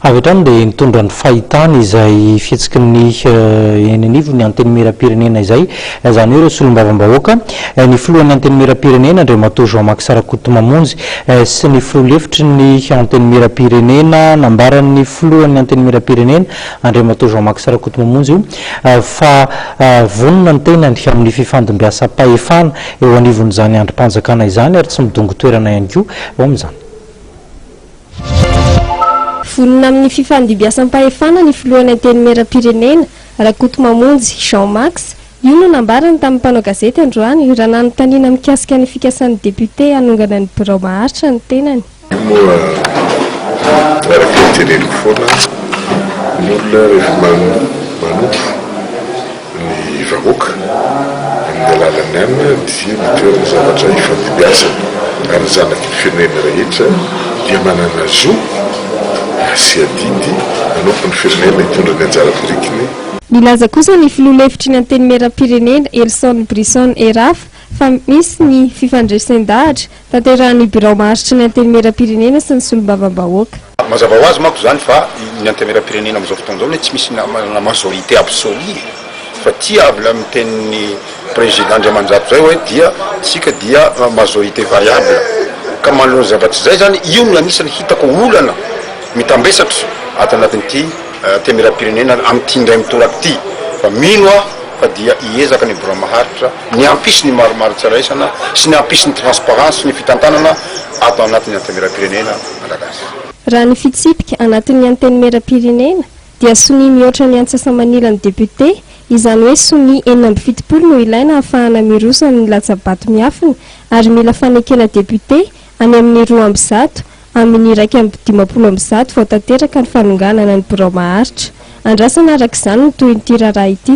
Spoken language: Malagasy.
Avy hatrany dia nitondra ny fahitany izay fihetsiky ny eny anivon'ny Antenimierampirenena izay, izany hoe ireo solombavambahoaka, ny filohan'ny Antenimierampirenena Andriamatoa Jean Max Rakotomamonjy sy ny filoha lefitry ny Antenimierampirenena. Nambaran'ny filohan'ny Antenimierampirenena Andriamatoa Jean Max Rakotomamonjy fa vonona ny tenany amin'ny fifandimbiasam-pahefana eo anivon'izany andrim-panjakana izany ary tsy midongo toerana ihany koa eo amin'izany. Vonona amin'ny fifandimbiasam-pahefana ny filohan'ny Antenimieram-pirenena, Rakotomamonjy Jean Max. Io no nambarany tamin'ny mpanao gazety androany, raha nanontaniana mikasika ny fikasan'ny depiote hanongana ny birao maharitra ny tenany. Io moa araka ny teneniko foana, ny olona rehefa manompo, ny vahoaka amin'ny alalan'ny anona dia mitoery ny zavatra hifandimbiasana ary ny zanaky ny firenena rehetra dia manana zo sy adidy manompo ny firenena hitondra ny anjara birikiny Nilaza kosa ny filoha lefitry ny Antenimierampirenena, Elson Bryson Erafa, fa misy ny fifandresen-dahatra Tanterahin'ny Birao Maharitry ny Antenimieram-pirenena sy ny Solombavambahoaka. Mazava ho azy manko izany fa ny Antenimieram-pirenena amin'izao fotoana izao anie tsy misy manana majorité absolue e! Fa ity avy ilay mitenin'ny Président Andriamanjato izay hoe dia isika dia majorité variable. Ka manoloana zavatra izay izany, io no anisan'ny hitako olana mitambesatra ato anatin'ity Antenimieram-pirenena amin'ity indray mitoraka ity. Fa mino aho fa dia hiezaka ny Birao Maharitra ny hampisy ny marimaritra iraisana sy ny hampisy ny transparence sy ny fitantanana ato anatin'ny Antenimierampirenena Malagasy. Raha ny fitsipika anatin'ny Antenimierampirenena dia sonia mihoatra ny antsasa-manilan'ny député, izany hoe sonia enina amby fitopolo no ilaina hahafahana miroso amin'ny latsa-bato miafina ary mila fanekena député any amin'ny roa amby zato amin'ny iraika amby dimampolo amby zato vao tanteraka ny fanonganana ny birao maharitra. Andrasana araka izany ny tohin'ity raharaha ity.